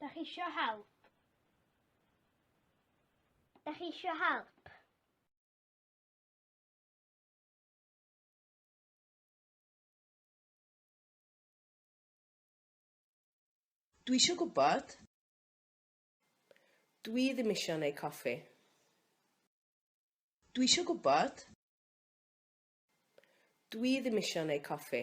Da chi eisiau help? Da chi eisiau help? Dwi eisiau gwybod. Dwi ddim eisiau neu coffi. Dwi eisiau gwybod. Dwi ddim eisiau neu coffi.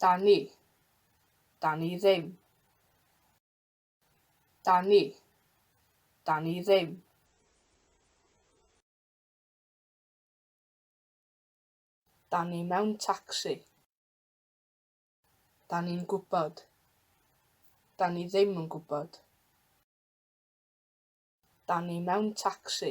Dani. Dani ddim. Dani. Dani ddim. Dani mewn tacsi. Dani'n gwybod. Dani ddim yn gwybod. Dani mewn tacsi.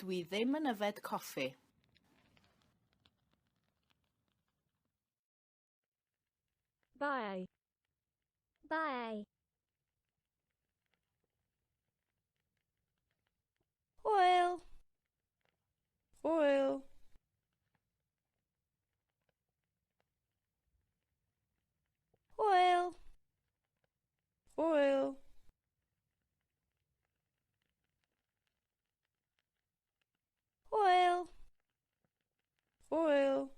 Dwi ddim yn yfed coffi. Bye. Bye. Hwyl. Hwyl. Hwyl. Hwyl. Hwyl! Hwyl!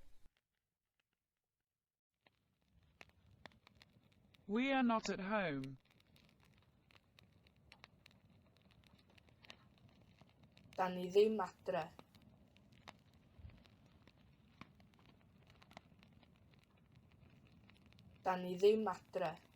We are not at home. Da ni ddim adre. Da ni ddim adre.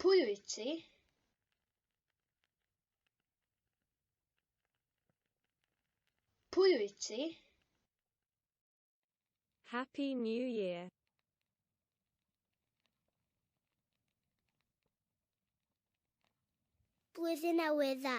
Pwy wyt ti? Pwy wyt ti? Happy New Year. Blwyddyn Newydd Dda.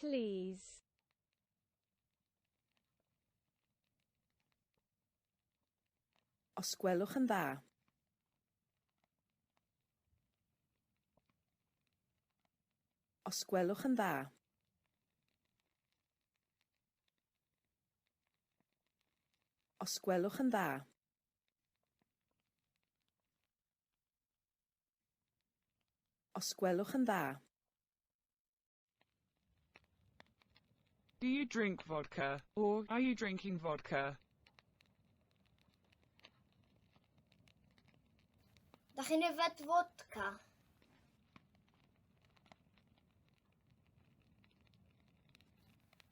Please. Os gwelwch yn dda. Os gwelwch yn dda. Os gwelwch yn dda. Os gwelwch yn dda. Do you drink vodka? or Are you drinking vodka? Da chi'n yfed fodca?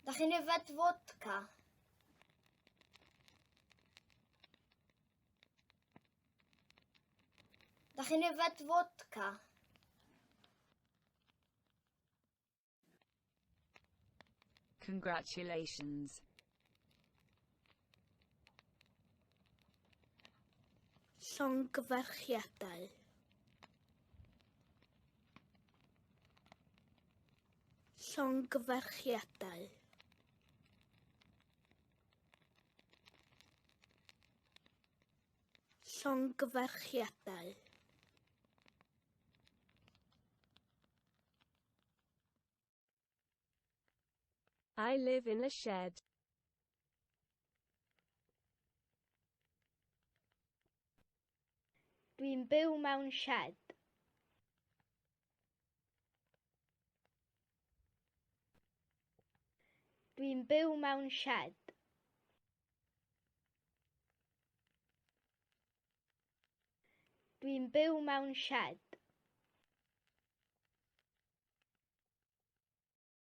Da chi'n yfed fodca? Da chi'n yfed fodca? Congratulations. Llongyfarchiadau. Llongyfarchiadau. Llongyfarchiadau. I live in a shed. Dwi'n byw mewn shed. Dwi'n byw mewn shed. Dwi'n byw mewn shed.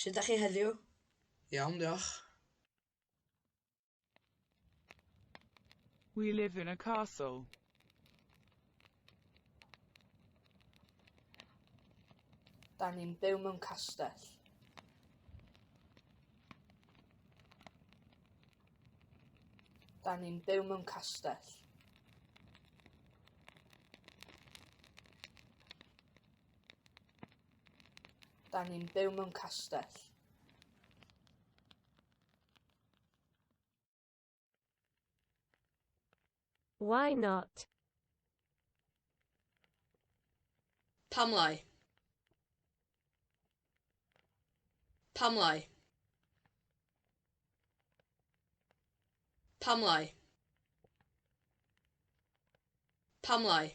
Sut ydych chi heddiw? Iawn, diolch. We live in a castle. Da ni'n byw mewn castell. Da ni'n byw mewn castell. Da ni'n byw mewn castell. Why not? Pam lai? Pam lai? Pam lai? Pam lai?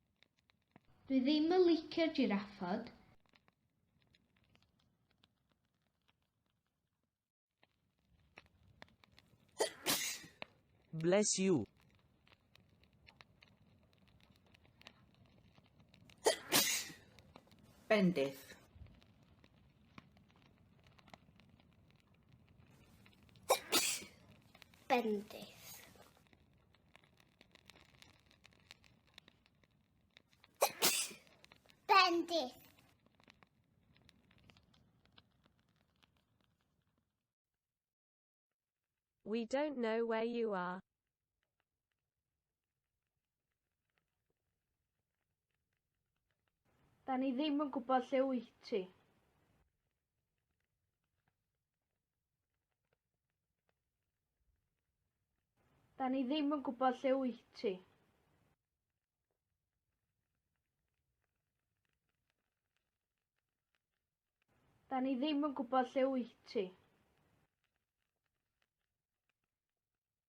Dwi ddim yn licio'r jiraffod. Bless you. Bendith. Bendith. Bendith. We don't know where you are. Da ni ddim yn gwybod lle wyt ti. Da ni ddim yn gwybod lle wyt ti. Da ni ddim yn gwybod lle wyt ti.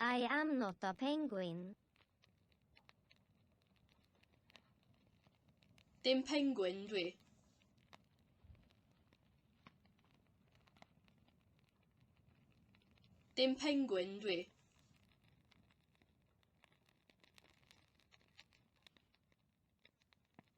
I am not a penguin. Dim penguin dwi. Dim penguin dwi.